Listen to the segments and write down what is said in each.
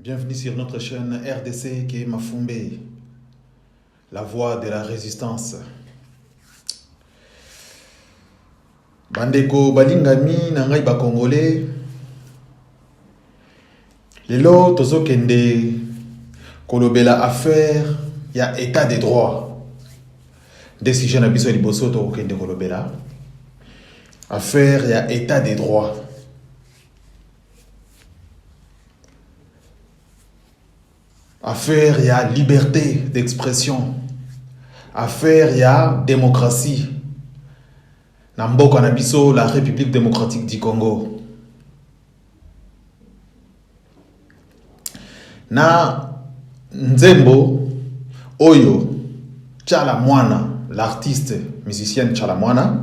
Bienvenue sur notre chaîne RDC Ken Mafumbe, la voix de la résistance. bandeko balingami na ngai bakongole lelo tozokende kolobela affaire ya état de droit nde sujet na biso ya liboso tokokende kolobela affaire ya état de droit affaire ya liberté d'expression affaire ya démocratie na mboka na biso la république démocratique du congo na nzembo oyo chala mwana l'artiste musicienne chala mwana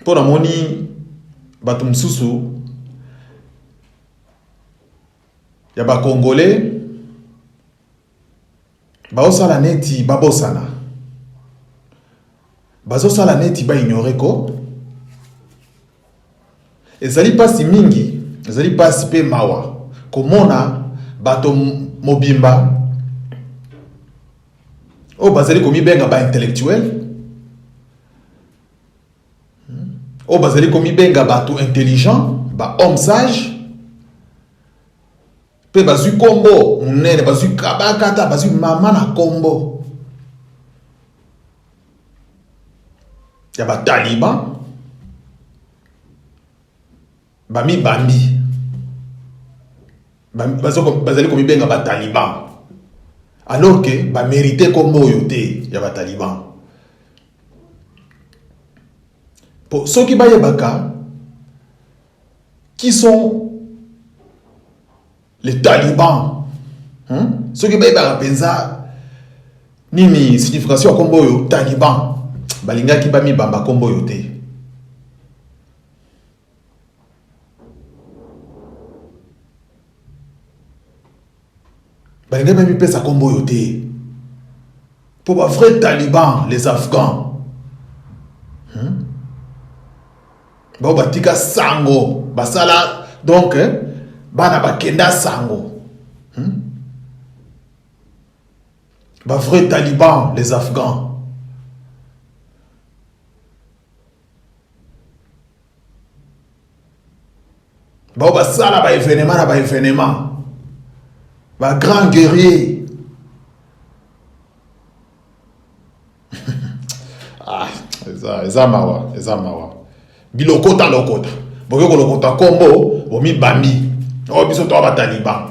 mpo namoni bato mosusu ya bakongole baosala neti babosana bazosala neti baignore ko ezali mpasi mingi ezali mpasi mpe mawa komona bato mobimba oyo bazali komibenga baintellectuel oyo bazali komibenga bato intelligent ba homme sage mpe bazwi nkombo monene bazwi kabaka ata bazwi mama na nkombo ya bataliban bamibambi bazali komibenga bataliban alors ke bamerite nkombo oyo te ya bataliban mpo soki bayebaka qui sont les talibans hein? soki bayebaka mpenza nini signification ya nkombo oyo taliban balingaki bamibamba nkombo oyo te balingi mpe mipesa nkombo oyo te mpo ba vrai taliban les afghans hmm? bao batika sango basala donc eh, bana bakenda sango hmm? ba vrai taliban les afghans bao basala ba evenema na ba evenema ba grand guerrier ah, eza, eza mawa eza mawa bilokota lokota boke kolokota kombo bomibambi oyo oh, biso toa bataliban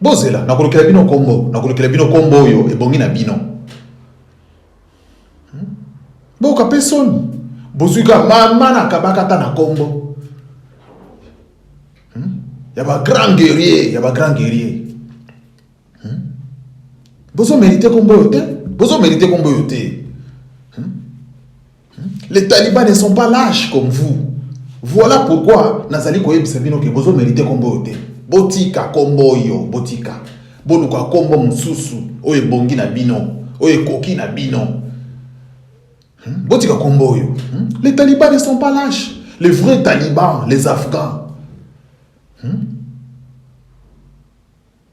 Bozela, nakolukela bino kombo, nakolukela bino kombo oyo ebongi na bino. Hmm? Boka pe soni. Bozui ka mama na kabaka ta na kombo. Hmm? Ya ba grand guerrier, ya ba grand guerrier. Hmm? Bozo merite kombo oyo te, bozo merite kombo oyo te. Les talibans ne sont pas lâches comme vous. Voilà pourquoi nazali koyebisa bino ke bozo merite kombo oyo te. Botika kombo oyo, botika. Boluka kombo mosusu oyo ebongi na bino, oyo ekoki na bino. Hmm? Botika kombo oyo. Hmm? Les talibans ne sont pas lâches. Les vrais talibans, les afghans. Hmm?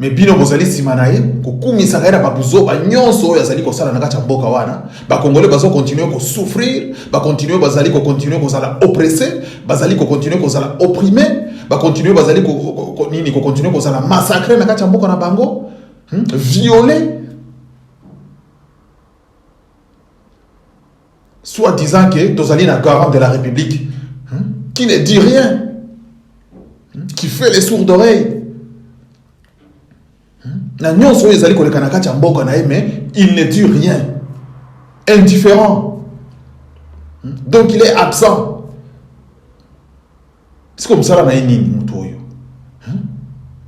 Mais bino bozali sima na ye kokumisaka ye na babuzoba nyonso oyo azali kosala na kati ya mboka wana. Bakongole bazo continue kosouffrir, bakontinue bazali kokontinue kozala oppresse, bazali kokontinue kozala opprime, bakontinue bazali ko, ko, ko, ko, nini kokontinue kozala massacre na kati ya mboka na bango hmm? viole Soit disant que tozali na garant de la République hein, qui ne dit rien, hein, qui fait les sourds d'oreilles. Hein, na nyonso oyo ezali koleka na kati ya mboka na ye mais il ne dit rien. Indifférent. Donc il est absent. Siko mosala na ye nini moto oyo hmm?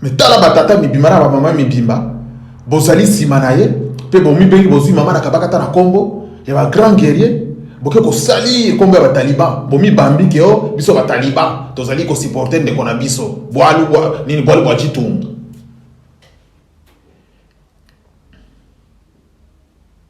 me tala batata mibimba na bamama mibimba bozali nsima na ye mpe bomibengi bozwi mama na kabakata na nkombo ya bagrand guerrier boke kosali ekombo ya bataliban bomibambi ke o biso bataliban tozali kosiporte ndeko na biso bwalu bwa nini bwalu bwa citunga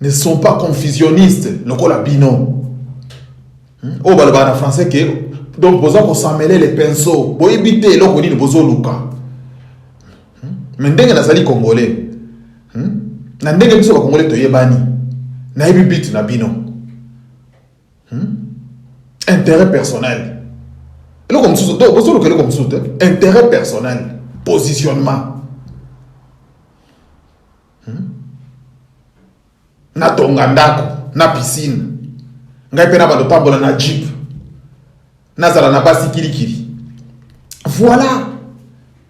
ne sont pas confusionnistes lokola bino hmm? oyo oh, balobaka na français ke donc boza kosamele le pinceau boyebi te eloko nini bozoluka hmm? me ndenge nazali congolais hmm? na ndenge biso bacongolais toyebani nayebi bit na bino intérêt personnel eloko mosusu to bozoluka eloko mosusu te intérêt personnel positionnement Hmm? Natonga ndako na piscine, ngai mpe na bando tambola na jeep, nazala na basi kilikili. Voilà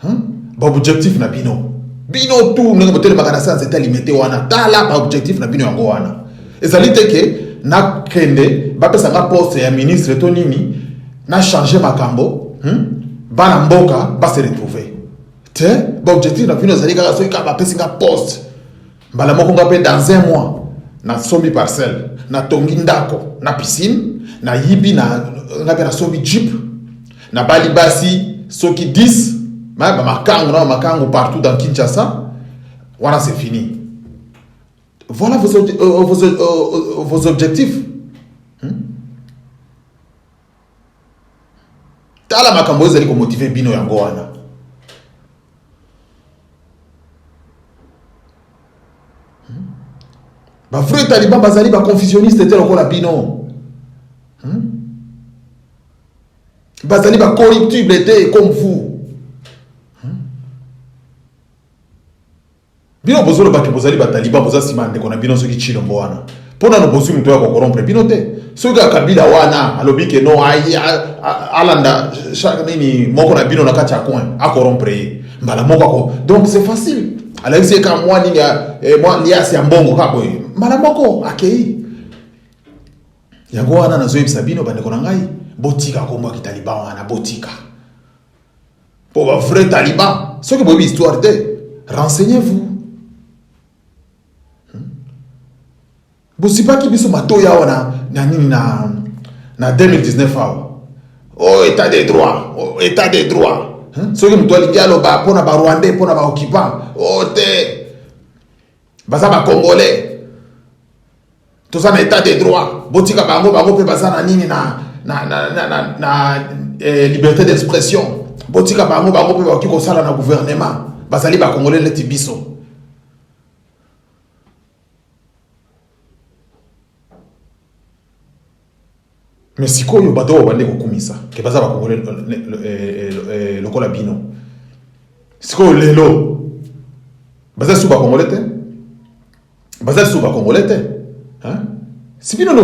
hmm? ba objectif na bino bino tu ndenge botelemaka na sanse etalimete wana tala ba objectif na bino yango wana ezali te ke nakende bapesa nga poste ya ministre to nini na change makambo hmm? bana mboka base retrouve te baobjectif na bino ezali kaka soki kaka bapesi nga poste mbala moko nga mpe dans un mois nasombi parcelle natongi ndako na piscine nayibi na nga mpe nasombi jeep nabali basi soki 10 bamakango na bamakango partout dans kinshasa wana c'est fini voilà vos, euh, vos, euh, vos objectifs tala makambo ezali komotive bino yango wana hmm? bavrai taliban bazali baconfusioniste te lokola bino hmm? bazali bacorruptible te comme vous Bino bozo loba ke bozali ba taliban boza sima ya ndeko na bino soki tshilombo wana po nano bozui moto ya ko corrompre bino te soki kaka kabila wana alobi ke no ayi alanda chaque nini moko na bino na kati ya coin a corrompre ye mbala moko ako donc c'est facile alakisi ye kaka mwa nini ya eh, mwa liasi ya mbongo kaka boye mbala moko akei yango wana nazoyebisa bino bandeko na ngai botika kombo ya kitaliban wana botika Pour un vrai taliban, ceux qui ont histoire de, renseignez-vous. Hmm? bosipaki biso matoyi awa na, na nini na, na 2019 awa oh, état de droit oh, état de droit hmm? soki moto alingi aloba mpo na barwandais mpo na baoccupant oh, te baza ba congolais toza na etat de droit botika bango bango mpe baza na nini na, na, na, na, na, na eh, liberté d'expression botika bango bango mpe bakoki kosala na gouvernement bazali bakongole neti biso Mais sikoyo bato oyo babandi kokumisa ke baza bakongole lokola bino, sikoyo lelo baza lisusu bakongole te? Baza lisusu bakongole te hein? Si bino nde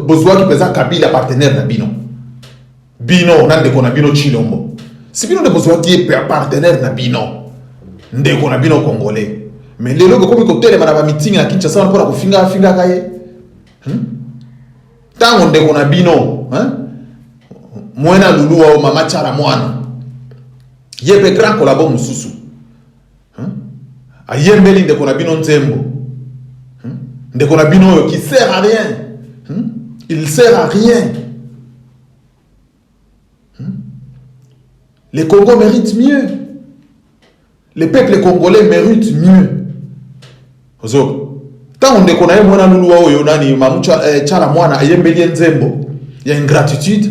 bozuaki mpenza Kabila partenaire na bino. Bino na ndeko na bino Chilombo. Si bino nde bozwaki ye partenaire na bino. Ndeko na bino Congolais. Mais lelo bokomi kotelema na ba meeting na Kinshasa wana mpona kofinga afingaka ye. Hmm? Tango ndeko na bino, hein? Mwena lulu wao mama chara mwana. Ye pe grand collabo mosusu. ayembeli ndeko na bino nzembo hmm? ndeko na bino oyo qui sert à rien hmm? il sert à rien hmm? le congo mérite mieux le peuple congolais mérite mieux ozoka ntango ndeko na ye mwana luluwa oyo nani mamucha eh, chala mwana ayembeli ye nzembo ya ingratitude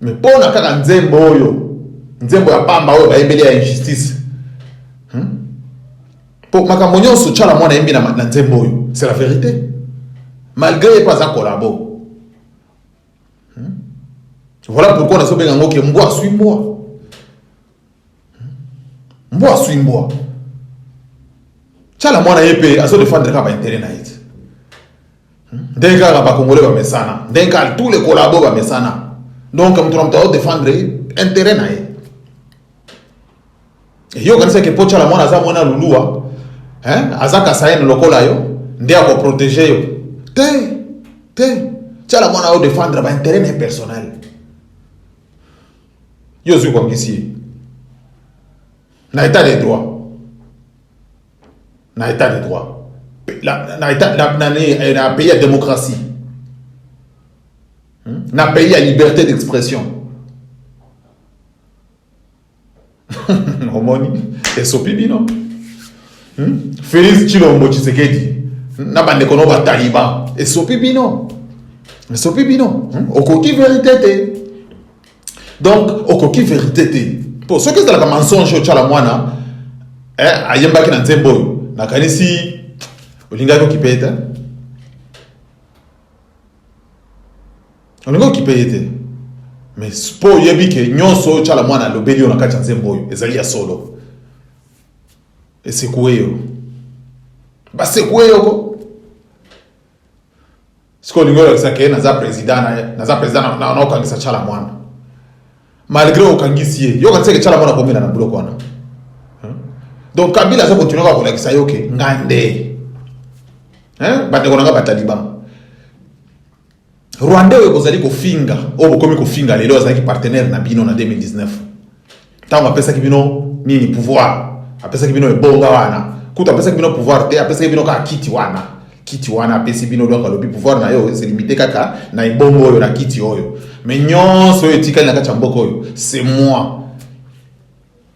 Mais pona kaka nzembo oyo, nzembo ya pamba oyo bayembeli ya injustice. Hmm? Po makambo nyonso Tshala mwana ayembi na, na nzembo oyo, c'est la vérité. Malgré ye pe aza collabo. Hmm? Voilà pourquoi nazo benga ngo ke mbwa aswi mbwa. mbwa aswi mbwa chala mwana ye mpe azo defendre kaka baintere na ye te hmm? ndenge kaka bakongole bamesana ndenge kaka tous les collabo bamesana donc moto na moto azodefendre intere na ye yo okanisaki mpo chala mwana aza mwana lulua aza kasayene lokola yo nde akoprotege yo te te chala mwana odefendre baintere na ye personnel yo ozwi koangisi ye na état de droit na état de droit na pays ya démocratie hmm? na pays ya liberté d'expression omoni esopi bino hmm? félix tshilombo tshisekedi na bandeko no bataliban esopi bino esopi bino hmm? okoki verité te donc okoki verite te mpo soki ezalaka mensonge otyala mwana eh, ayembaki na nzembo oyo nakanisi olingaki okipe ye te olingi okipe ye te mais mpo oyebi ke nyonso oyo tyala mwana alobeli yo na kati ya nzembo oyo ezali ya solo esekue yo basekue yoko siko olingi olakisa ke naza president na naza president na okangisa chala mwana malgré okangisi ye yo okanisaki chala mwana komela na buloko wana donc kabila aza continue kaka kolakisa yo ke nga nde bandeko na nga bataliban rwandais oyo bozali kofinga oyo bokomi kofinga lelo azalaki partenaire na bino na 2019 ntango apesaki bino nini pouvoir apesaki bino ebonga wana kutu apesaki bino pouvoir te apesaki bino kaka kiti wana kiti wana apesi bino donc alobi pouvoir na yo se limite kaka na ebongo oyo na kiti oyo mais nyonso oyo etikali na kati ya mboka oyo c'est moi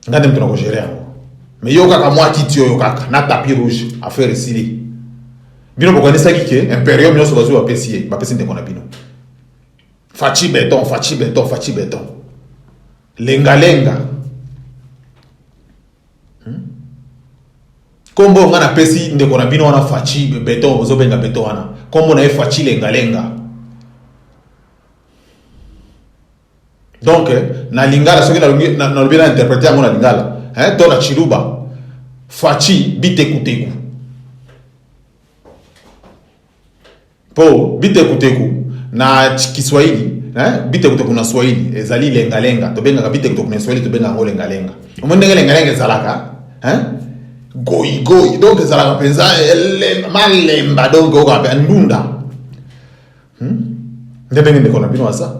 nga nde moto na kogere yango mais yo kaka mwa kiti oyo kaka na tapis rouge affaire esili bino bokanisaki ke imperium nyonso bazwi bapesi ye bapesi ndeko na bino faci beton faci beton faci beton Lenga lenga. Hmm? Kombo nga na pesi ndeko na bino wana Fachi beton ozo benga beton wana. Kombo na ye Fachi lenga lenga. Donc na lingala soki na lobi na lobi na interpréter yango na lingala, hein, to na chiluba. Fachi biteku teku. Po bitekuteku na Kiswahili eh, bitekuteku na Swahili ezali lengalenga. Tobengaka bitekuteku na Swahili tobengaka yango lengalenga. Omoni ndenge lengalenga ezalaka eh? goigoi donc ezalaka mpenza malemba donc oyoka mpe ndunda hmm? nde ndenge ndeko na bino aza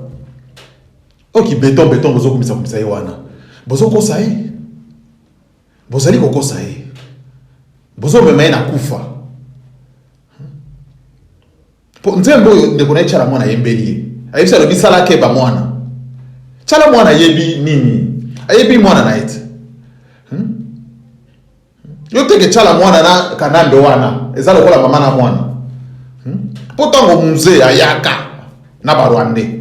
oki beton beton bozokumisa kumisa ye wana bozokosa ye Bozali kokosa ye, bozomema ye na kufa. Po nzembo oyo ndeko na ye Tshala Mwana ayembeli ye, ayebisi alobi sala keba mwana. Tshala Mwana ayebi nini? Ayebi mwana na ye te. Hmm? Yo teke Tshala Mwana na Kanambe wana eza lokola mama na mwana. Hmm? Po tango mzee ayaka na ba Rwandais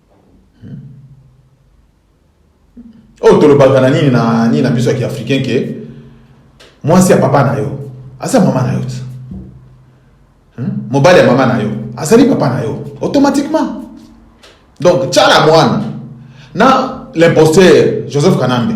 oyo tolobaka na nini na nini na biso ya kiafricain ke mwasi ya papa na yo aza mama na yo ti hmm? mobali ya mama na yo azali papa na yo automatiquement donc tya la mwana na l'imposteur joseph kanambe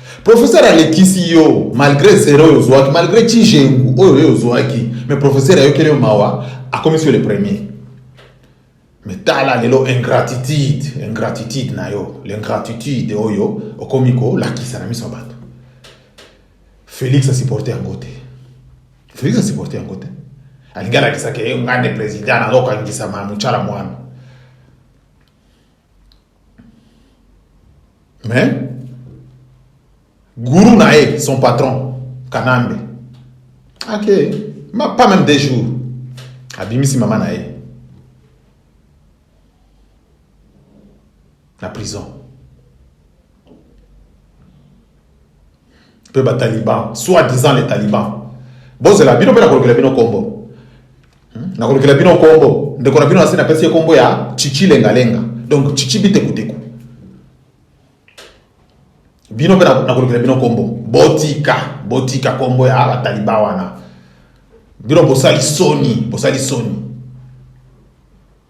Professeur alekisi yo malgré zero oyo ozwaki malgré chijengu oyo yo ozwaki mais professeur ayokeli yo mawa akomisi yo le premier mais tala lelo ingratitude ingratitude na yo l'ingratitude oyo okomi kolakisa na miso ya bato felix asupporte yango te felix asupporte yango te alingi alakisaka ye ngai nde président nazokangisama motala mwana mais guru na ye son patron kanambe ake ma pas même des jours abimisi mama na ye na prison Pe ba talibans, soit disant les talibans. Bozela bino pe nakolukela bino kombo. Hmm? Nakolukela bino kombo. Ndeko na bino nasi napesi ye kombo ya Chichi lenga lenga. Donc Chichi biteku teku. Bino pe nakolukela bino kombo. Botika, botika kombo ya ba talibans wana. Bino bosali soni, bosali soni.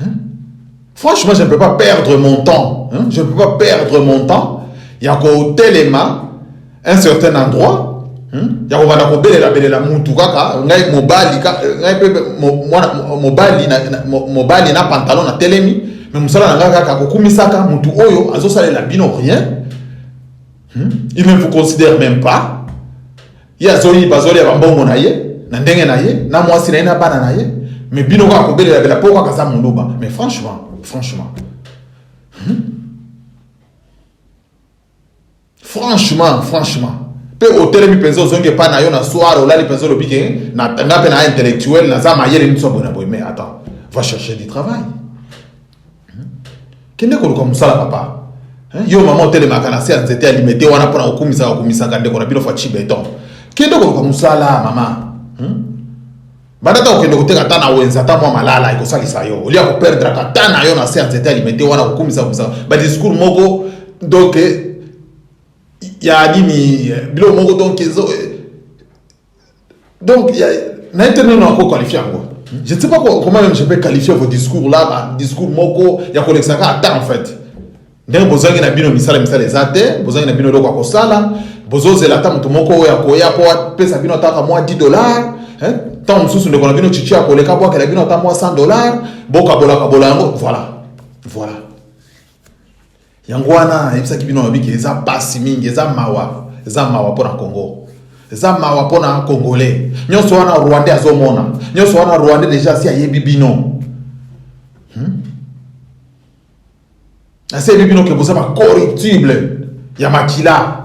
Hein? Franchement, je ne peux pas perdre mon temps. Hein? Je ne peux pas perdre mon temps. Il y a Telema, un certain endroit. Hmm? ya kobanda kobelela belela mutu kaka ngai mobali euh, ngai mpe mobali mobali na pantalon na telemi me mosala na ngai kaka kokumisaka mutu oyo azosalela bino rien hmm? il ne vous considère même pas Ye azoyiba azolia ba mbongo na ye na ndenge na ye na mwasi na ye na bana na ye mais bino kaka kobelela bela po kaka aza muluba mais franchement franchement hmm? franchement franchement mpe otelemi mpenza ozongi epai na yo na soir olali mpenza olobi ke nga mpe na intellectuel naza mayele nini so boye na boye mais attends va chercher du travail Kende koluka mosala papa. Hein? Yo maman otelemaka na se ya nzete ya limete wana mpo na kokumisaka okumisaka ndeko na bino fachi beton. Kende koluka mosala mama. Hmm? Banda ta kokende koteka ata na wenza ata mwa malala ekosalisa yo. Olia koperdraka ata na yo na se ya nzete ya limete wana kokumisa kokumisa ba discours moko donc ya nini biloko moko donc ezo Donc, na été non encore qualifié encore. Je ne sais pas comment même je peux qualifier vos discours là, bah, discours moko ya kolekisaka ata en fait. Ndenge bozangi na bino misala misala eza te, bozangi na bino eloko ya kosala, bozozela ata moto moko oyo akoya mpo apesa bino ataka mwa 10 dollars hein? ntango mosusu ndeko na bino chichi akoleka bwakela bino ata mwa 100 dollars bokabolakabola yango voilà voilà yango wana ayebisaki bino alobi ke eza pasi mingi eza mawa eza mawa mpo na congo eza mawa mpo na congolais nyonso wana rwandais azomona nyonso wana rwandais deja asi ayebi bino hmm? asi ayebi bino ke boza bacorruptible ya makila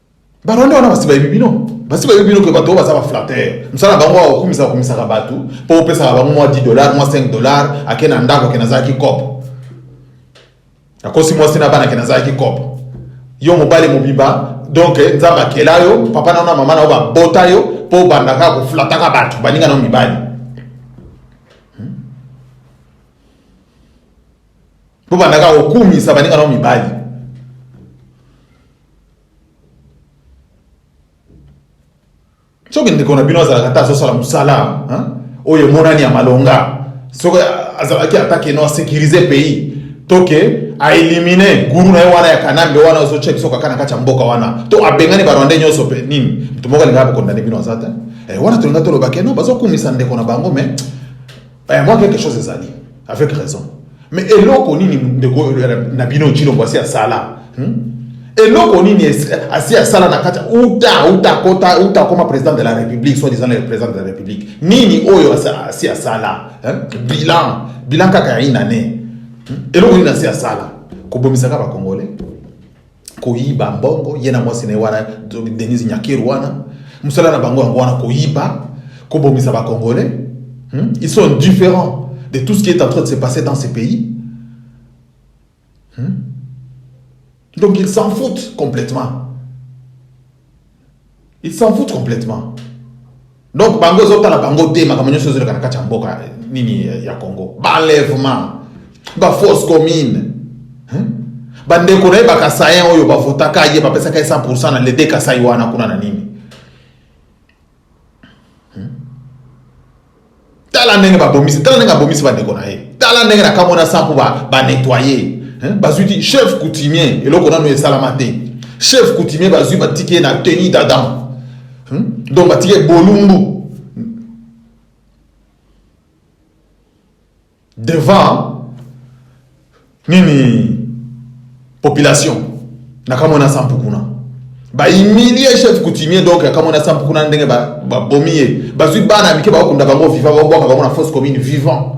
Ba Rwanda wana basi bayebi bino. Basi bayebi bino que bato baza ba flatteur. Msala bango wa okumisa okumisaka bato mpo opesaka bango mwa 10 dollars, mwa 5 dollars, ake na ndako ake nazalaki cop. Akosi mwasi na bana ake nazalaki cop. Yo mobali mobimba donc nzambe akela yo papa na na mama na yo babota yo mpo obandaka koflataka bato baninga na mibali hmm? mpo bandaka kokumisa baninga na mibali soki ndeko na bino azalaka ata azosala mosala oyo emonani ya malonga soki azalaki ata keno asecurise pays toke aelimine guru na ye wana ya kanambe wana ozotya biso kaka na kati ya mboka wana to abengani barwandais nyonso mpe nini moto moko alingaka bakondane bino aza te eh, wana tolinga tolobake no bazokumisa ndeko na bango mais Eh, moi quelque chose ezali avec raison mais eloko nini ndeko na bino cilombo asi asala hmm? eloko nini asi asala na kati uta uta kota uta akoma président de la république soit disant le président de la république nini oyo asi asala bilan bilan kaka ya une année hmm? eloko nini asi asala kobomisaka bacongolais koyiba mbongo ye na mwasi na ye wana Denise Nyakeru wana mosala na bango yango wana koyiba kobomisa ba congolais hmm? ils sont différents de tout ce qui est en train de se passer dans ce pays hmm? donc ils s'en foutent complètement Il s'en fout complètement. Donc bango ezotala bango te makambo nyonso ezoleka na kati ya mboka eh, nini eh, ya Congo. Balèvement, ba force commune. Hein? Bandeko na ye bakasayen oyo bavotaka ye bapesaka ye 100% na lede kasai wana kuna na nini tala ndenge babomisi tala ndenge abomisi bandeko na ye tala ndenge na kamona sanku banettoye ba bazwi ti chef coutumier eloko nano esalama te chef coutumier bazwi batiki ye na teni d'adam hmm? donc batiki ye bolumbu devant nini population na kamwe na sampu kuna ba humilie chef coutumier donc ya kamwe na sampu kuna ndenge babomi ba ye bazwi bana mike bakokunda bango vivant babwaka bango na fausse commune vivant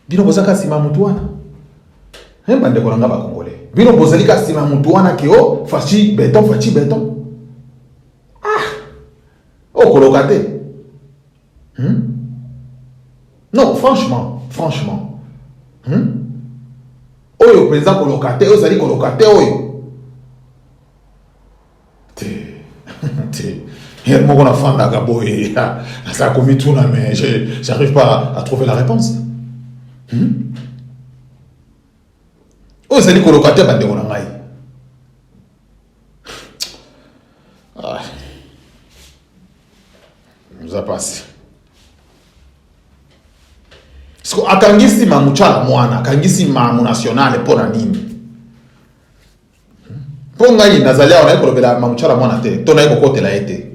bino bozaka nsima motu wana eh, bandeko na ngai bakongole bino bozali ka nsima motu wana ke o faci beton faci beton ah okoloka te Hum? Non, franchement, franchement. Hum? Oyo penza koloka te, ozali koloka te oyo. ye moko nafandaka boye naza komituna mais j'arrive pas à trouver la réponse hmm? oyo ezali koloka te bandeko na ngai Ah. Eza pasi. Siko akangisi mamu chala mwana, akangisi mamu nationale mpo na nini? Mpo hmm? ngai nazali awa naye kolobela mamu chala mwana te, to naye kokotela ye te.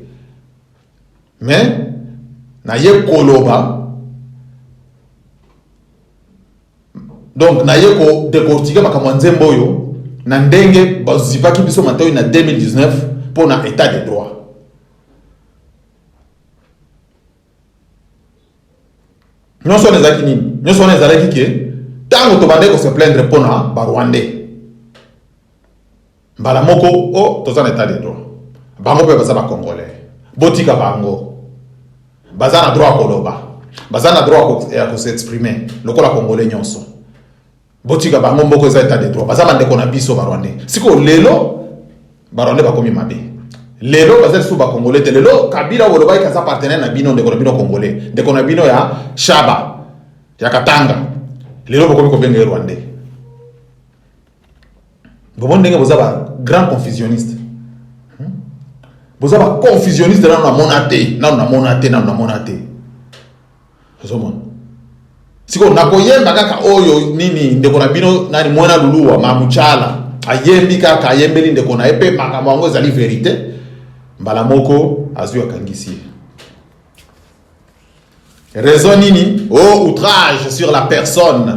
Mais naye koloba Donc na ye ko decortiquer makambo ya nzembo oyo na ndenge bazipaki biso matoi na 2019 mpo na etat de droit. nyonso wana ezalaki nini nyonso wana ezalaki ke ntango tobandaki kose plaindre mpo na barwandais Mbala moko oh toza na etat de droit. Bango pe baza ba congolais. Botika bango. Baza na droit ya koloba. Baza na droit ya ko s'exprimer lokola congolais nyonso. Botika bango mboko eza etat de droit. Baza bandeko na biso ba rwandais. Siko lelo ba rwandais bakomi mabe. Lelo baza lisusu ba congolais te. Lelo Kabila olobaki kaza partenaire na bino ndeko na bino congolais. Ndeko na bino ya Shaba ya Katanga. Lelo bokomi kobenga ye rwandais. Vous comprenez que vous avez un grand confusionniste. Hmm? Vous avez un confusionniste dans la monaté, dans la monaté, dans la monaté. Vous comprenez sikoyo nakoyemba kaka oyo nini ndeko na bino nani mwana luluwa mamuchala ayembi kaka ayembeli ndeko na ye mpe makambo yango ezali verite mbala moko azwi akangisi ye raison nini o oh, outrage sur la personne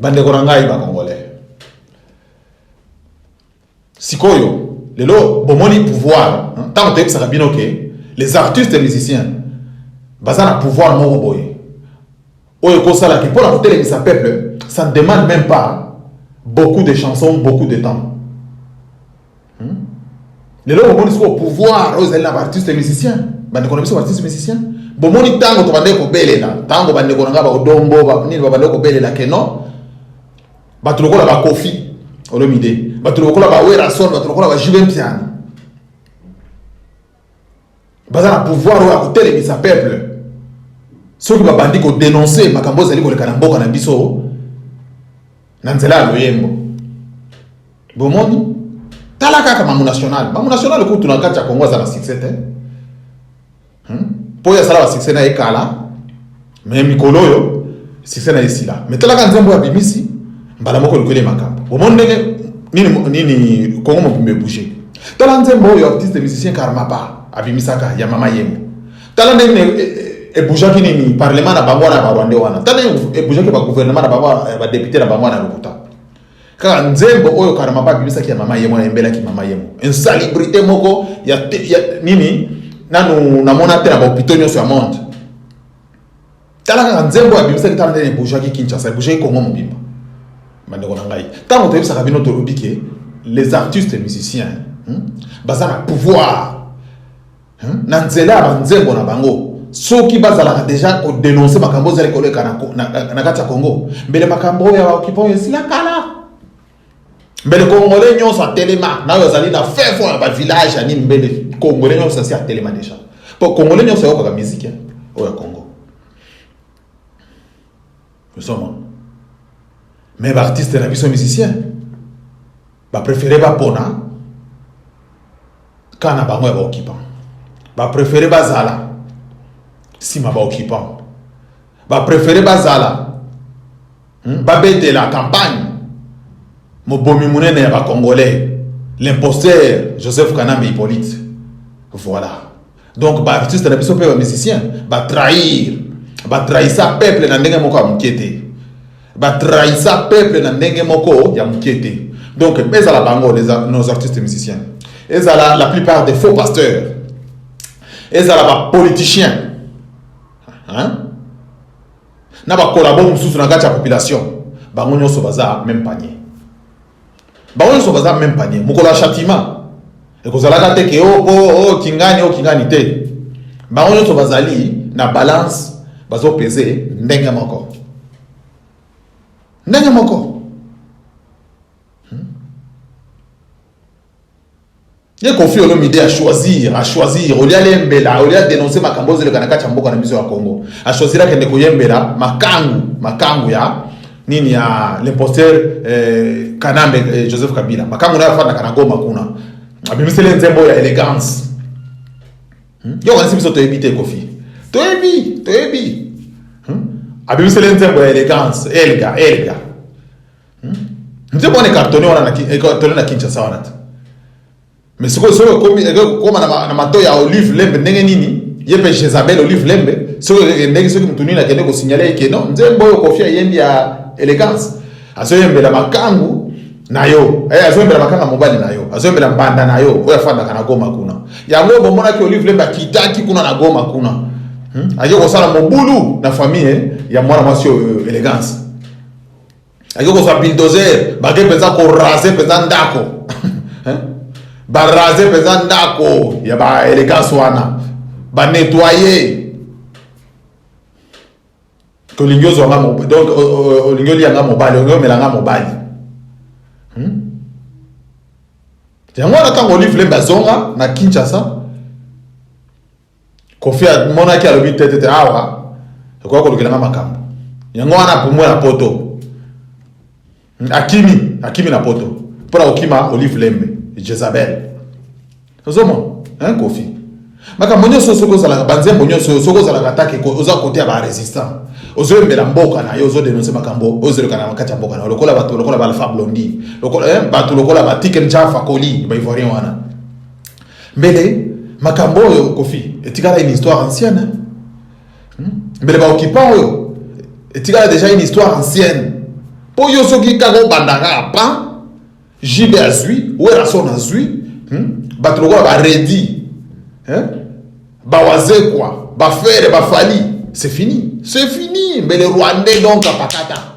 bandeko na ngai bakongolais sikoyo lelo bomoni pouvoir ntango toyebisaka bino ke les artistes musiciens baza na pouvoir moko boye oyo ekosalaki mpo na kotelemisa peuple ça ne demande même pas beaucoup de chansons beaucoup de temps hmm? lelo bomoni sikoyo pouvoir oyo ezali na baartiste musicien bandeko na biso baartiste musicien bomoni ntango tobandaki kobelela ntango bandeko na ngai baodombo nini babandaki kobelela ke non bato lokola bakofi olomide bato lokola bawerason bato lokola bajube mpiana baza na pouvoir oyo ya kotelemisa peuple soki babandi kodenonse makambo ezali koleka na mboka na biso na nzela ya loyembo bomoni tala kaka mamu national mamu national kutu na kati ya kongo aza na succès te mpo hmm? oyo asala basuccès na ye kala me mikolo oyo sise na ye esila me talaka nzembo ya bimisi mbala moko lokweli makambo omoni ndenge nini, nini kongo mobimba ebouge tala nzembo oyo artiste musicien karmapa abimisaka ya mama yembo tala ndenge ebougeaki e, e nini parlement na bango wana ya barwande wana tala ndenge ebougeaki bagouvernement na bango ya badepute na bango wana ya lokuta kaka nzembo oyo karmapa abimisaki ya mama yembo wana embelaki mama yembo insalubrité moko ya, ya nini nanu namona te na bahopitaux nyonso ya monde tala kaka nzembo ya bimisaki tala ndenge ebujaki kinshasa ebujaki kongo mobimba bandeko na ngai ntango toyebisaka bino tolobi ke les artistes musiciens hmm, baza na pouvoir hmm, na nzela ya banzembo na bango soki bazalaka deja kodenonse makambo ozali koleka na kati ya congo mbele makambo oyo ya baokipa oyo esila kala Mbele congolais nyonso atelema nayo azali na fin fond ya ba village ya nini mbele congolais nyonso asi atelema deja po congolais nyonso ayokaka miziki ya oyo ya congo osoma mais baartiste na biso musicien bapréféré bapona ka na bango ya baoccupant bapréféré bazala nsima baoccupant ba prefere bazala hmm? babetela campagne mobomi monene ya bacongolais l'imposteur joseph kanambe hippolyte voilà donc baartiste na biso mpe bamusicien batrahir batrahisa peuple na ndenge moko ya moke te batrahisa peuple na ndenge moko ya moke te donc ezala bango nos artistes musiciens ezala la plupart des faux pasteurs ezala bapoliticien hein? na bakolabo mosusu na kati ya population bango nyonso baza meme panier bango nyonso baza meme panier mokolo ya châtiment ekozalaka te ke oko oh, oh, oh, kingani o kingani te bango nyonso bazali na balance bazopese ndenge moko ndenge moko ye kofi olomide a choisir a choisir olia lembela olia denonce makambo ozeleka na kati ya mboka na biso ya congo a choisir akende koyembela makangu makangu ya nini ya l'imposteur eh, kanambe eh, joseph kabila makangu nayo afandaka na goma kuna abimiseli nzembo ya elegance hmm? yo kanisi biso toyebi te kofi toyebi toyebi hmm? abimiseli nzembo ya elegance elga elga nzembo wana ekartone wana na ekartone na Kinshasa wana te mais sikoyo soki ekomi ekokoma na mato ya Olive Lembe ndenge nini ye mpe Jezabel Olive Lembe soki ekendeki soki motu nini akende kosignale ye ke non nzembo oyo Koffi ayembi ya elegance azoyembela makangu na yo eh, azoyembela makanga mobali na yo azoyembela mbanda na yo oyo afandaka na Goma kuna yango oyo bomonaki Olive Lembe akitaki kuna na Goma kuna hmm? aye kosala mobulu na famille ya mwana mwasi oyo elegance ake kozwa bildozer bake mpenza korase mpenza ndako barase mpenza ndako ya baelegance wana banetoye olingi ozwa nga donc olingi olia nga mobali olingi omela nga mobali hmm? yango wana ntango olive lembe azonga na kinshasa Koffi amonaki alobi te te te awa ekoya kolukela nga makambo yango wana apumbwe na poto akimi akimi na poto mpo na kokima olive lembe jezabel ozoma hein kofi makambo nyonso soki ozalaka banzembo nyonso oyo soki ozalaka atake oza kote ya barésistant ozoyembela mboka na yo ozodenonse makambo ozelekana na kati ya mboka na yo lokola bato lokola baalpha blondi eh, bato lokola batike njafa koli baivoirien wana Mbele makambo oyo Koffi etikala une histoire ancienne hein? Hmm? Mbele ba occupants oyo etikala déjà une histoire ancienne. Po yo soki kaka obanda kaka pa JB azui, Werrason azui, hmm? bato lokola ba Reddy, hein? ba Wazekwa, ba Ferre, ba Fally, c'est fini. C'est fini. Mbele Rwandais donc apakata.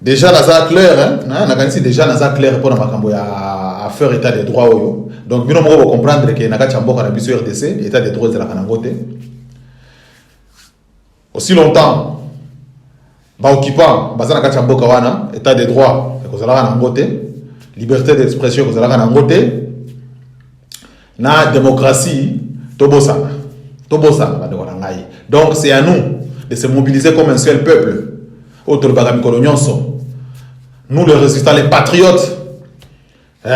Deja naza clair hein? nakanisi deja naza clair mpo na makambo ya affaire état de droit oyo donc bino moko bocomprendre ke na kati ya mboka na biso rdc état de droit ezalaka nango te aussi longtemps baoccupant baza na kati ya mboka wana état de droit ekozalaka nango te liberté d'expression ekozalaka nango te Na democratie tobosana tobosana bandeko na ngai donc c'est à nous de se mobiliser comme un seul peuple oyo tolobaka mikolo nyonso nous les résistants les patriotes eh.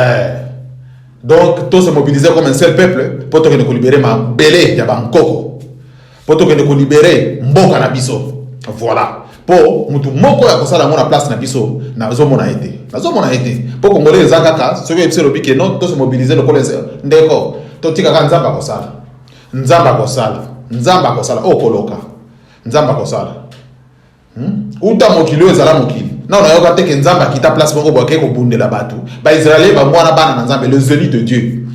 donc to se mobiliser comme un seul peuple mpo tokende kolibere mabele ya bankoko po tokende ko libere mboka na biso voilà po mutu moko ya kosala yango na place na biso nazomona ye te nazomona ye te po kongole eza kaka soki oyebisi elobi ke non tose mobilize lokola ndeko totikaka nzambe akosala nzambe akosala nzambe akosala okoloka nzambe akosala Hmm? uta mokili oyo ezala mokili nao nayoka te ke nzambe akita place moko boake kobundela bato baisraele bango wana bana na nzambe les élus de dieu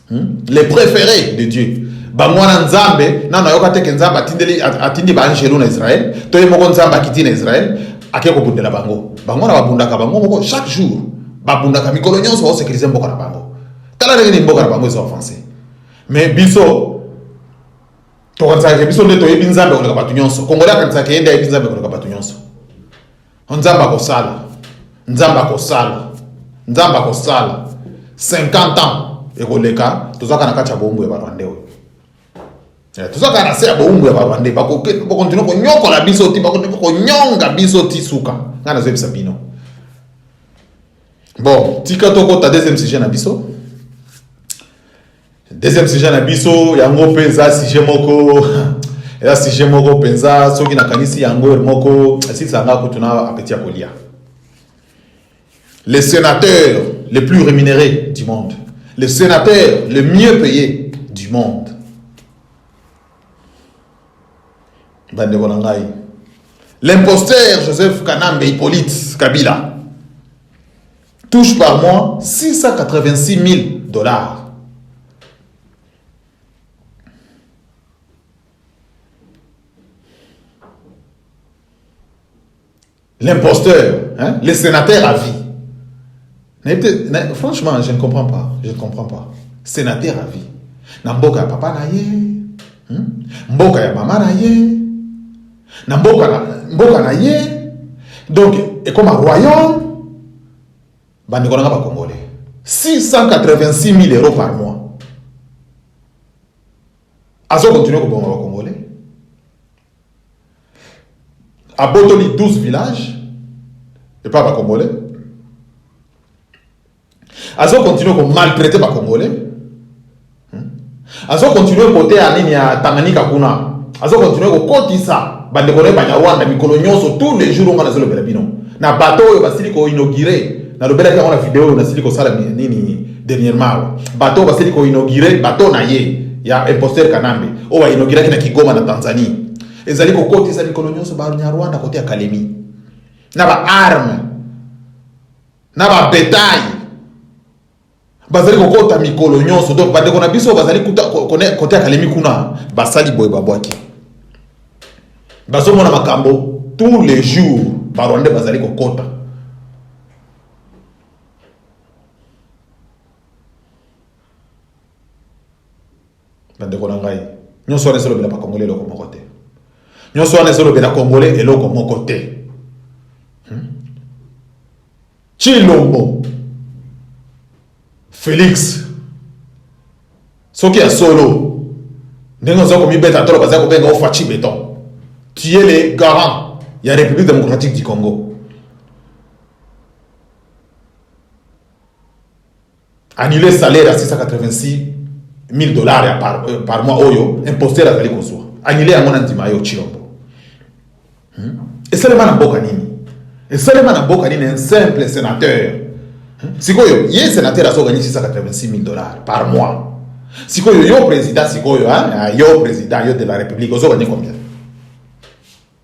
hmm? les préférés de dieu bango wana nzambe nao nayoka te ke nzambe atindeli atindi baangelo na israele to ye moko nzambe akiti na israele ake kobundela bango bango wana babundaka bango moko chaque jour babundaka mikolo nyonso baosekirize mboka na bango tala ndenge nini mboka na bango ezo avance mais biso tokanisaka ke biso nde toyebi nzambe koleka bato nyonso kongole akanisaka ke ye nde ayebi nzambe koleka bato nyonso nzambe akosala nzambe akosala nzambe akosala 50 ans ekoleka tozwaka na kati ya boumbu ya barwande oyo eh, tozwaka na se ya boumbu ya barwande bakontinue konyokola biso ti bakontinue konyonga biso ti suka ngai nazoyebisa bino bon tika tokota deuxième sujet na biso Deuxième sujet na biso yango mpe eza sujet moko eza sujet moko mpenza soki nakanisi yango heure moko esilisa nga kutu na apeti ya kolia le sénateur le plus rémunéré du monde le sénateur le mieux payé du monde bandeko na ngai l'imposteur joseph kanambe hippolyte kabila touche par mois 686000 dollars l'imposteur hein? le sénateur à vie franchement je ne comprends pas je ne comprends pas sénateur à vie na mboka ya papa na ye hmm? mboka ya mama na ye na mboka na mboka na ye donc ekoma royaume bandeko na nga bakongole 686 000 euros par mois azo continue kobonga bakongole abotoli 12 village epa bakongole Azo continuer ko maltraiter ba congolais. Hmm? Azo continuer kote ya nini ya Tanganyika kuna. Azo continuer kokotisa bandeko na ye Banyarwanda mikolo nyonso tous les jours onga nazolobela bino na bato oyo basili koinaugure nalobelaki yango na video oyo nasili kosala nini dernièrement bato oyo basili koinaugure bato na ye ya imposteur Kanambe oyo bainauguraki na Kigoma na Tanzanie ezali kokotisa mikolo nyonso Banyarwanda kote ya Kalemi na ba arme na ba betail bazali kokota mikolo nyonso donc bandeko na biso bazali kote ya kalemi kuna basali boye babwaki bazomona makambo tous les jours barwande bazali kokota bandeko na ngai nyonso wana ezolobela bakongole eloko moko te nyonso wana ezolobela kongole eloko moko te chilombo hmm? felix soki ya solo ndenge oza komibeta tolo baza kobenga ofaci beton tu es le garant ya république démocratique du congo Annuler salaire ya 686000 dollars ya par, euh, par mois oyo imposteur azali kozwa. Annuler yango na ndima yo Chilombo. Hmm? Esalema na mboka nini? Esalema na mboka nini un simple sénateur? Hmm? Sikoyo ye sénateur azo gagner 686000 dollars par mois. Sikoyo yo président sikoyo hein? Ah, yo président yo de la République ozo gagner combien?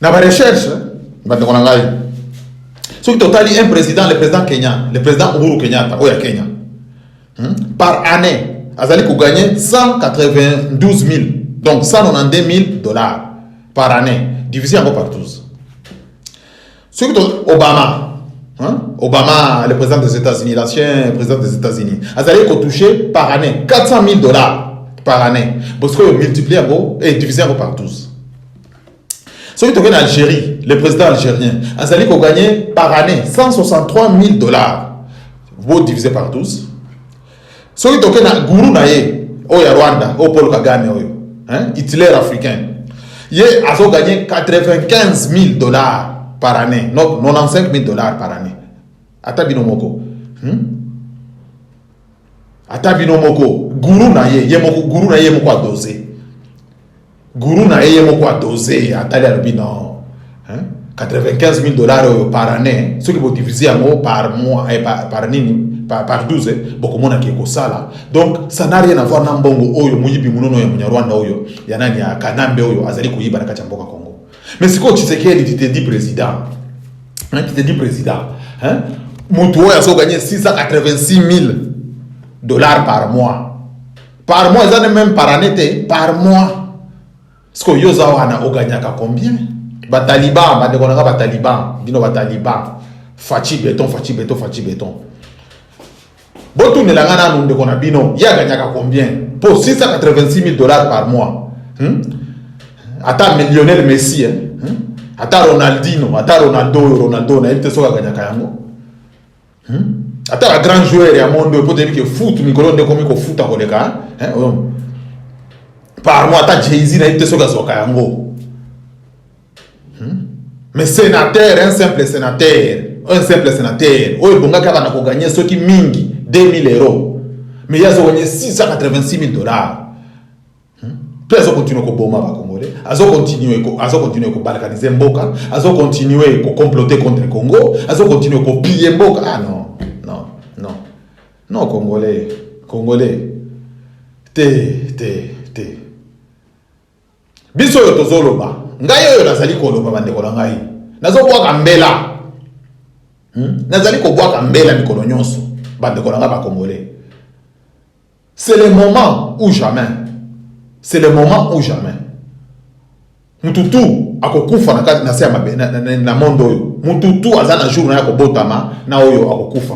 na ba recherche bandeko na ngai soki totali un président le président Kenya le président Uhuru Kenyatta oyo ya Kenya hmm? par année azali koganye 192 000 donc 192 000 dollars par année divisé yango par 12 soki Obama Hein? Obama, le président des États-Unis, l'ancien président des États-Unis, azali touché par année 400 000 dollars par année. Parce que multiplié et divisé par 12. soki toke na algérie le président algérien azali koganye par année 163 000 dollars bo divise par 12 soki toke na guru na ye oyo ya rwanda oyo paul kagame oyo hitler africain ye azoganye 95 000 dollars par année donc 95 000 dollars par année ata bino moko hmm? ata bino moko guru na ye ye moko guru na ye moko adose Guru na ye ye moko a dose ye atali alobi non 95 000 dollars oyo par année soki bodivise yango par mois eh, par, par nini par, par 12 eh, bokomonaki ekosala donc ça n'a rien avoir na mbongo oyo moyibi monono ya munyarwanda oyo ya nani ya kanambe oyo azali koyiba na kati ya mboka congo mais sikoyo tshisekedi titedi président titedi président motu oyo azoganye 686 000 dollars par mois par mois eza ne meme par année te par mois siko yo oza wana oganyaka combien bataliban bandeko na nga bataliban bino bataliban faci beton faci beton faci beton botunela nga nanu ndeko na bino ye aganyaka combien mpo 686 000 dollars par mois hmm? ata millionnaire messi eh? hmm? ata ronaldino ata ronaldo oyo ronaldo nayebi te soki aganyaka yango Hmm? Ata ba grand joueur ya monde oyo potebi ke foot mikolo nde ekomi kofuta koleka hein? oyo oh. pardon ata jay-z nayebi te soki azwaka yango hmm? mais sénateur un simple sénateur un simple sénateur oyo ebongaki abanda koganye soki mingi 2000 euro mais ye azoganye 686 000 dollars Hmm? Pe azo continuer ko boma ba Congolais, azo continuer ko azo continuer ko balkaniser mboka, azo continuer ko comploter contre Congo, azo continuer ko piller mboka. Ah non, non, non. Non Congolais, Congolais. Te, te, te. Biso yo tozo loba. Ngai oyo nazali ko loba ba ndeko na ngai. Nazo bwaka mbela. Hmm? Nazali ko bwaka mbela mikolo nyonso. Ba ndeko na ngai ba Congolais. C'est le moment ou jamais. C'est le moment ou jamais. Mutu tu akokufa na kati na se ya mabe na, na, na monde oyo. Mutu tu aza na jour na ya kobotama na oyo akokufa.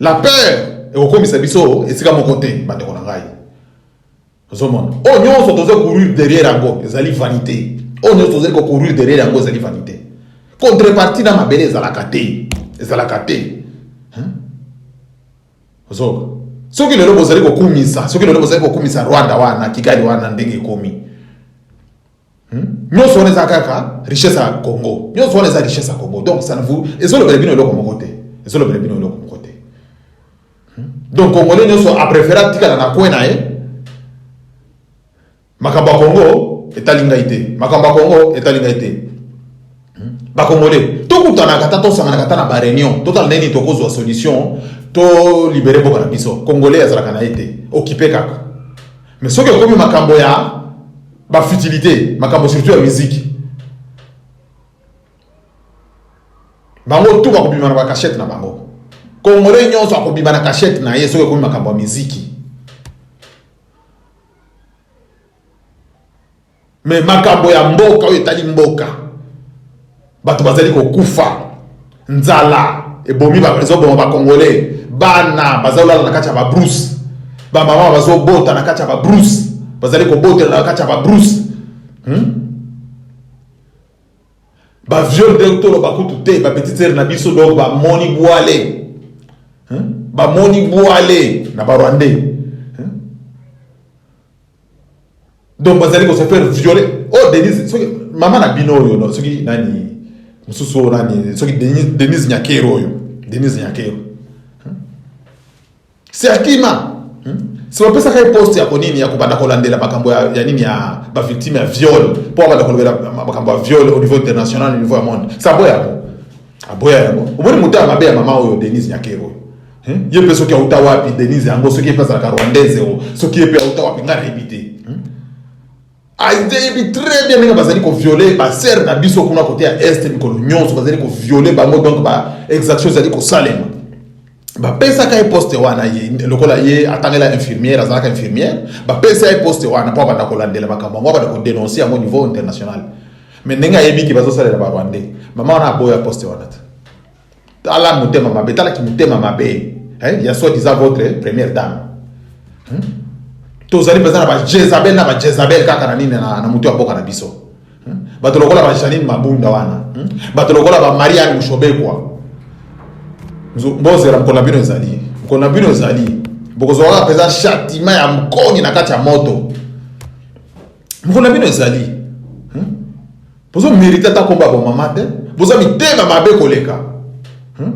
La peur ekokomisa biso esika moko te bandeko na ngai. Ozomona oyo nyonso tozo courir derrière yango ezali vanite, oyo nyonso tozali ko courir derrière yango ezali vanite. Contrepartie na mabele ezalaka te, ezalaka te. Ozoka soki lelo bozali kokumisa, soki lelo bozali kokumisa Rwanda wana Kigali wana ndenge ekomi Hmm? nyonso wana eza kaka richesse ya congo nyonso wana eza richesse ya congo donc ça ne vous ezolobela bino eloko moko te ezolobela bino eloko moko te hmm? donc congolais nyonso apréféré atikala na coin na ye makambo ya congo etali ngai te makambo ya congo etali ngai te hmm? bacongolais tokutanaka ata tosanganaka ata na bareunion totala ndenge nini tokozwa solution tolibere mboka na biso congolais azalaka na ye te okipe kaka Mais soki ekomi makambo ya ba futilité, makambo surtout ya musique. Bango tout bakobima na ba cachette na bango. Congolais nyonso akobima na cachette na ye soki ekomi makambo ya miziki. me makambo ya mboka oyo etali mboka bato bazali kokufa nzala ebomi ezoboma bacongolais bana bazolala na kati ya babrouse bamama bazobota na kati ya babrouse bazali kobotela na kati ya babrouse hmm? baviole nde toloba kutu te bapetitere na biso donc bamoni bwale hmm? bamoni bwale na barwandais donc bazali ko se faire violer oh denise soki mama na bino oyo no, soki nani mosusu oyo nani soki denise, denise nyakero oyo denise nyakero hmm? se akima hmm? se bapesaka ye poste ya konini ya kobanda kolandela makambo ya, ya nini ya bavictime ya viol mpo abanda kolobela makambo ya viol au niveau international au niveau ya monde se aboya yango aboya yango omoni moto ya mabe ya mama oyo denise nyakero oyo Hmm? ye mpe soki auta wapi denise yango soki ye mpe azalaka rwandaise o soki ye mpe auta wapi ngai nayebi te hmm? ayebi ah, très bien ndenge bazali koviole basere na biso kuna kote ya est mikolo nyonso bazali koviole bango donc baexaction ezali kosalema bapesaka ye poste wana ye lokola ye atangela infirmière azalaka infirmière bapesa ye poste wana mpo abanda kolandela makambo yango abanda kodenonce yango niveau international mais ndenge ayebi ke bazosalela barwandais mama wana aboya poste wana te Tala motema mabe, tala ki motema mabe eh, ya soit disant votre première dame hmm? tozali mpenza na bajezabel na bajezabel kaka na nini na, na motu ya mboka na biso hmm? bato lokola bajanine mabunda wana hmm? bato lokola bamariane mushobekwa bozela mokolo na bino ezali mokolo na bino ezali bokozwaka mpenza chatima ya mokoni na kati ya moto mokolo na bino ezali Bozo merite ata kombo ya bomama te, boza mitema mabe koleka hmm?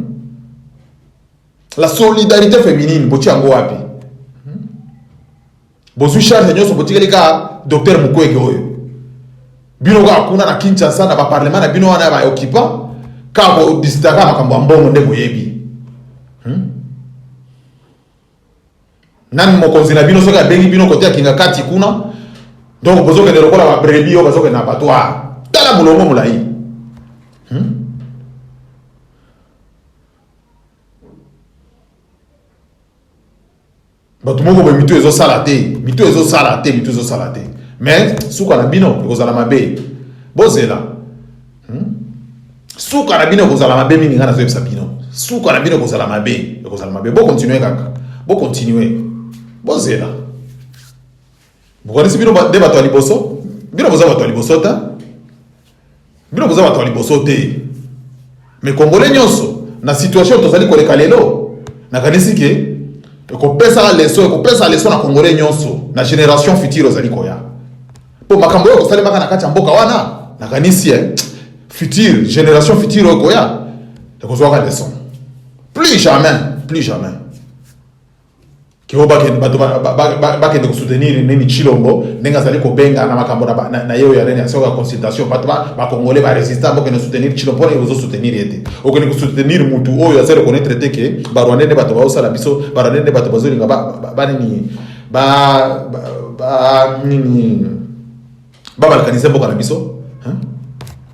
la solidarité féminine botia yango wapi hmm? bozwi charge nyonso botikeli kaka docteur mukwege oyo bino kaka kuna na kinshasa na baparlement na bino wana ya baoccupant kaka kodisitaka makambo ya mbongo nde boyebi hmm? Nani mokonzi na bino soki abengi bino kote ya kingakati kuna donc bozokende lokola babrebi oyo bazokende na batware tala molongo molai hmm? bato moko boye mitu ezosala te mitu ezosala te mitu ezosala te mais suka na bino ekozala mabe bozela hmm? suka na bino ekozala mabe mingi ngai nazoyebisa bino suka na bino ekozala mabe ekozala mabe bokontinue kaka bokontinue bozela bokanisi bino nde bato ya liboso bino boza bato ya liboso te bino boza bato ya liboso te me kongole nyonso na situation tozali koleka lelo nakanisi ke ekopesa leso ekopesa leso na kongole nyonso na generation future ozali koya Po makambo oyo kosalemaka na kati ya mboka wana, nakanisi eh, future generation future oyo koya ekozwaka leçon. Plus jamais, plus jamais kio bakende bato bakende kosoutenir nini chilombo ndenge azali kobenga na makambo na ye oyo ya nini ya soko ya consultation bato bakongole baresista bokende soutenir chilombo mpona ozo soutenir ye te okende kosoutenir motu oyo azali reconnaître te ke barwande nde bato baosala biso barwande nde bato bazolinga banini ba ba, ba nini ba balkaniser mboka na biso hein?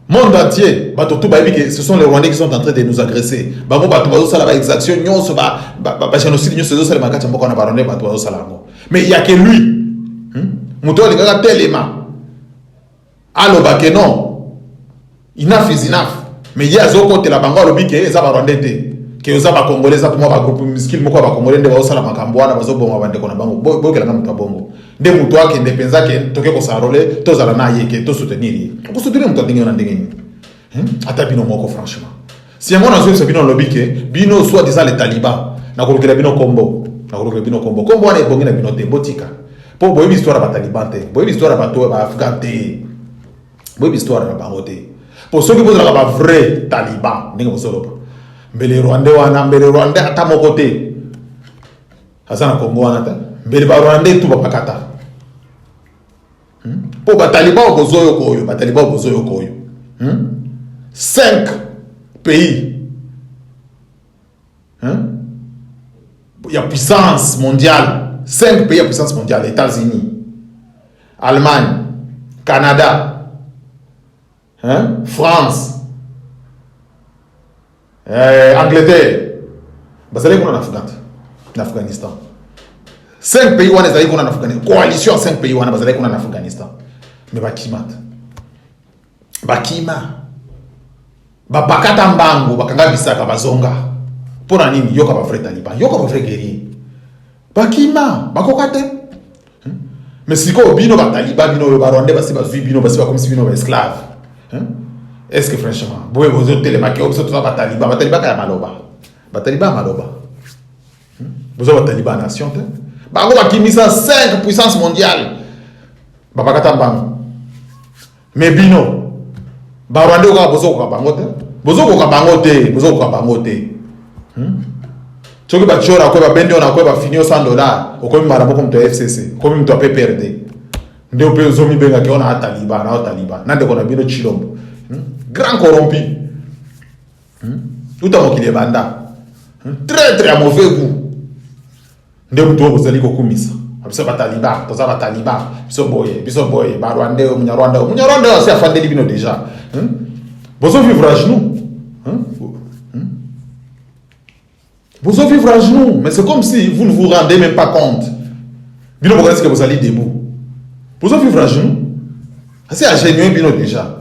monde entier bato tout bayebi ke ce sont les rwandais qui sont en train de nous agresser bango bato bazosala ba exaction nyonso ba, ba, ba, ba génocide nyonso ezosalema na kati ya mboka wana barwandais bato bazosala yango mais ya ke lui hmm? moto oyo alingaka telema Aloba que non enough is enough mais ye azokotela bango alobi ke eza ba rwandais te ke oza ba congolais eza mwa ba groupe miskile moko ya ba congolais nde baosala makambo wana bazoboma bandeko na bango boyokela nga moto ya bongo nde moto akende mpenza ke toke kosanrole tozala na ye ke tosoutenir ye okosoutenir moto ya ndenge wana ndenge nini Hmm? Ata bino moko franchement. Si yango nazongisa bino nalobi ke bino soit disant les talibans nakolukela bino kombo nakolukela bino kombo kombo wana ebongi na bino te botika mpo boyebi histoire ya bataliban te boyebi histoire ya bato ya baafghan te boyebi histoire na bango te mpo soki bozalaka bavrai taliban ndenge bozoloba mbele rwande wana mbele rwande ata moko te aza na kongo wana te mbele barwande tu bapakata hmm? po bataliban okozo yoko oyo bataliban okozo yoko oyo hmm? 5 pays hein? ya puissance mondiale 5 pays ya puissance mondiale états-unis allemagne canada hein? France eh, Angleterre bazalaki kuna na Afghanistan na Afghanistan 5 pays wana ezalaki kuna na Afghanistan coalition ya 5 pays wana bazalaki kuna na Afghanistan mais bakimata bakima babakata mbango bakanga bisaka bazonga mpo na nini yoka ba vrai taliban yoka ba vrai guerrier bakima bakoka te hmm? me sikoyo bino bataliba bino oyo barwandais basi bazwi bino basi bakomisi bino baesclave hmm? est ce que franchement boye bozotelemaki oyo biso toza bataliba batalibaka ya maloba bataliba ya maloba hmm? boza bataliba ya nation te bango bakimisa 5 puissance mondiale babakata mbango Mais bino ba Rwandais kaka bozokoka bango te bozokoka bango te bozokoka bango te hmm? soki batiora akwe babendi ona akwe bafini yo 100 dollar okomi mbala moko moto ya fcc okomi moto ya pprd nde mpe ozomibengaki ona ataliba na otaliba na ndeko na bino chilombo hmm? grand corrompi hmm? uta mokili ebanda hmm? traitre ya mauvais gout nde moto oyo bozali kokumisa biso bataliba toza bataliba biso boye biso boye barwande oyo munyarwanda oyo munyarwanda oyo asi afandeli bino déjà hmm? bozovivre à genoux hmm? hmm? bozovivre à genoux mais c'est comme si vous ne vous rendez même pas compte bino bokanisi ke bozali debout bozovivre à genoux asi agenue bino déjà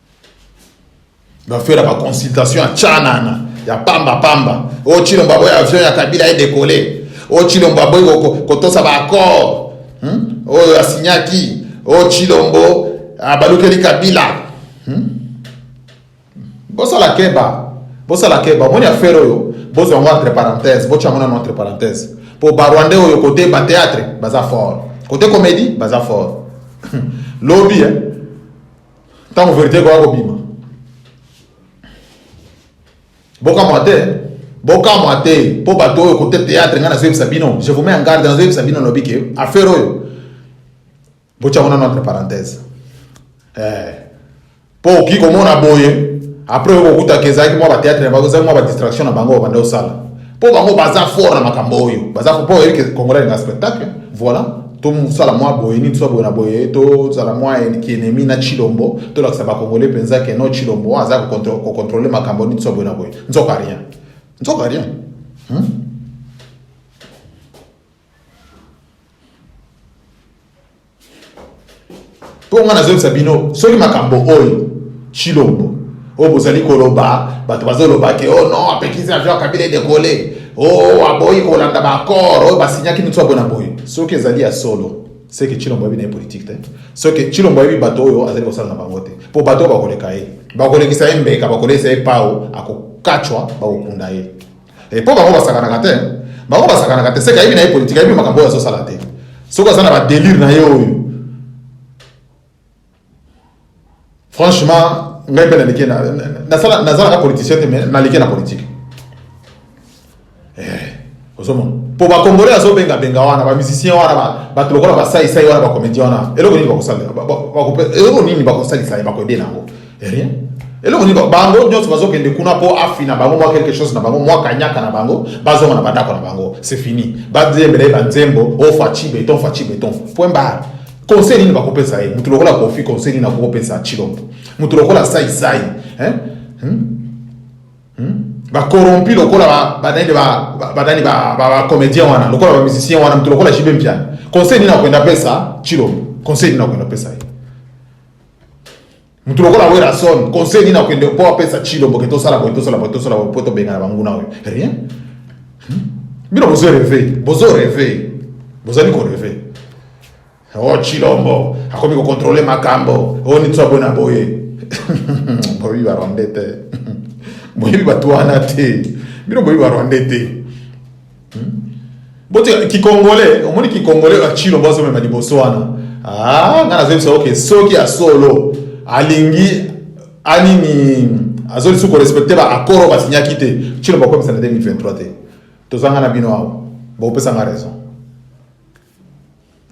bafela baconsultation ya canana ya pamba pamba oyo oh, cilombo aboyi avion ya kabila edekole oyo oh, cilombo aboyi kotosa baaccord hmm? oyo oh, asinyaki oyo cilombo abalukeli kabila hmm? bosala keba bosala keba omoni affaire oyo bozwa yango entre parenthèse botya yango nano entre parenthèse mpo barwandais oyo kote bateatre baza fort kote comédie baza fort lobi eh? ntango verite ekoya kobima bokamwa te bokamwa te mpo bato oyo kote théâtre ngai nazoyebisa bino je vous mets en garde nazoyebisa bino lobi ke affaire oyo botyango nano entre parenthèse eh, mpo okoki komona boye après okokutaka ezalaki mwa batheatre na bango ezalaki mwa badistraction na bango obanda osala Po bango baza fort na makambo oyo. Baza fort po oyebi ke Congolais na spectacle. Voilà. To sala mwa boye nini to boye na boye to sala mwa enemi na Chilombo to lakisa ba Congolais penza ke no Chilombo aza ko contrôler makambo nini to boye na boye. Nzoka rien. Nzoka rien. Hmm? mpo ngai nazoyebisa bino soki makambo oyo chilombo oyo bozali koloba bato bazoloba ke o oh non apekisi avion kabila edekole o oh, aboyi kolanda baaccord oyo basinyaki mitu ya bona boye soki ezali ya solo seke chilombo ayebi na ye politike te soki chilombo ayebi bato oyo azali kosala na bango te mpo bato oyo bakoleka ye bakolekisa ye mbeka bakolekisa ye pao akokacwa bakokunda ye Eh, po bango basakanaka te bango basakanaka te seke ayebi na ye politike ayebi makambo oyo azosala te soki aza na badelire na ye oyo franchement ngai mpe nalike nazalaka politicien te mais nalike na politike eh, ozomona mpo bakongole azobengabenga wana bamusicien wana bato lokola basaisai wana bacomédien wana eloko nini bakosalela eloko nini bakosalisa ye bakoyebela yango rien eloko nini bango nyonso bazokende kuna mpo afina bango mwa quelque chose na bango mwa kanyaka na bango bazonga na bandako na bango c'est fini bazembela ye banzembo o faci beton faci beton point barre conseil nini bakopesa ye motu lokola kofi conseil nini akokopesa chilombo motu lokola saisai hein? hmm? hmm? bacorrompi lokola banani banani bacomédien wana lokola bamusicien wana motu lokola jibe mpiani conseil nini akoenda pesa chilombo conseil nini akoenda pesa ye moto lokola werrason conseil nini akende mpo apesa tshilombo ke tosala boye tosala boye tosala boye mpo tobengana banguna oyo rien hmm? bino bozo reve bozo reve bozali koreve o oh, tshilombo akomi kokontrole makambo oyo oh, nitso aboye na boye boyebi barwande te boyebi bato wana te bino boyebi barwande te Hmm? Bote kikongole, omoni kikongole ya chilo bozo mema liboso wana. Ah, nga nazo bisa okay, soki ya solo alingi anini azoli suko respecter ba accords ba signaki te. Chilo ba komisa na 2023 te. Tozanga na bino awa. Ba opesa nga raison.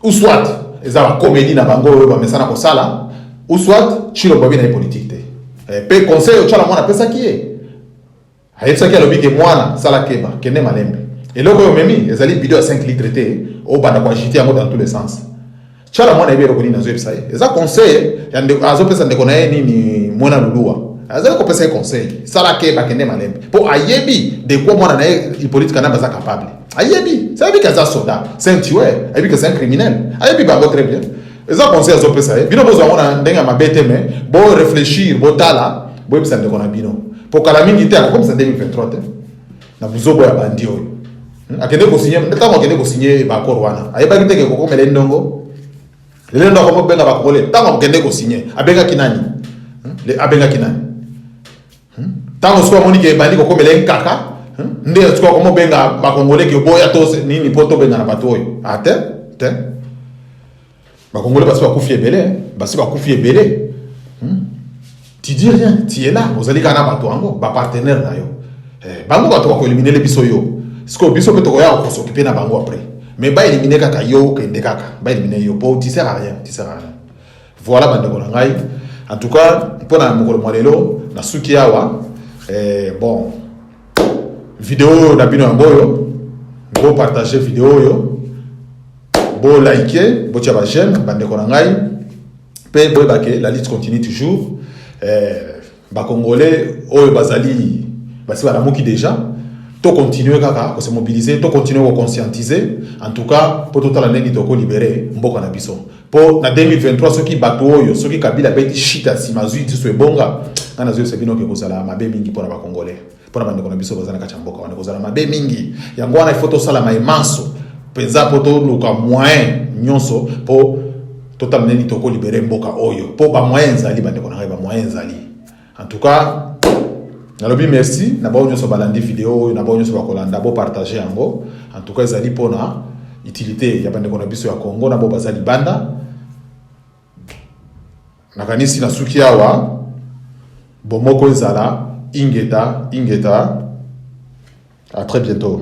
Ou soit eza ba comédie na bango oyo ba mesana ko sala, ou soit chilo ba bina politique te. Eh, pe conseil o chala mwana pesa ki ye. Ayebisaki alobi ke mwana sala keba kende malembe eloko oyo omemi ezali bido ya 5 litre te obanda ko agite yango dans tous les sens chala mwana yebi eloko nini azoyebisa ye eza conseil ya ndeko azopesa ndeko na ye nini mwana luluwa azali kopesa ye conseil sala keba kende malembe mpo ayebi de quoi mwana na ye hippolite kanambe aza capable ayebi ayebi ke aza soda c'est un tueur ayebi ke c'est un criminel ayebi bango très bien eza conseil azopesa ye bino bozwa yango na ndenge ya mabe te mais bo réfléchir botala boyebisa ndeko na bino mpo kala mingi te akokomisa 2023 te na buzobo ya bandi oyo hmm? akende kosinye ntango akende kosinye baakor wana ayebaki te kekokomela ye ndongo lelo ndo akomobenga bakongole ntango akende kosinye abengaki nani hmm? abengaki nani Tango sikoyo amoni ke ebandi kokomela ye nkaka nde sikoyo akomobenga bakongole ke boya to nini mpo tobengana bato oyo ate ah, te bakongole basi bakufi ebele basi bakufi ebele hmm? tu dis rien tu es là ozali kaka na bato yango bapartenaire na yo eh, bango bato bakoeliminele biso yo sikoyo biso mpe tokoya kosokipe na bango après mais baelimine kaka yo okende kaka baelimine yo mpo tu sert à rien tu sert à rien Voilà bandeko na ngai en tout cas mpo na mokolo mwa lelo nasuki awa eh, bon video oyo na bino yango oyo bopartage video oyo bolike botya bajeme bandeko na ngai mpe boyebake la lite continue toujours eh, Ba congolais oyo bazali basi balamuki deja to continuer kaka ko se mobiliser to continuer ko conscientiser en tout cas po totala ndenge toko libere mboka na biso po na 2023 soki bato oyo soki kabila abeti shita nsima azwi lisusu ebonga ngai nazwi ese bino ke kozala mabe mingi mpo na bacongolais mpo na bandeko na biso baza na kati ya mboka wana ekozala mabe mingi yango wana ifo tosala mai manso mpenza mpo toluka moyen nyonso mpo totala nini tokolibere mboka oyo mpo bamoyen ezali bandeko na ngai bamoyen ezali en tout cas nalobi merci na bao nyonso balandi video oyo na bao nyonso bakolanda bopartage yango en tout cas ezali mpona utilité ya bandeko na biso ya congo na bao baza libanda Nakanisi na suki awa bomoko ezala ingeta ingeta à très bientôt.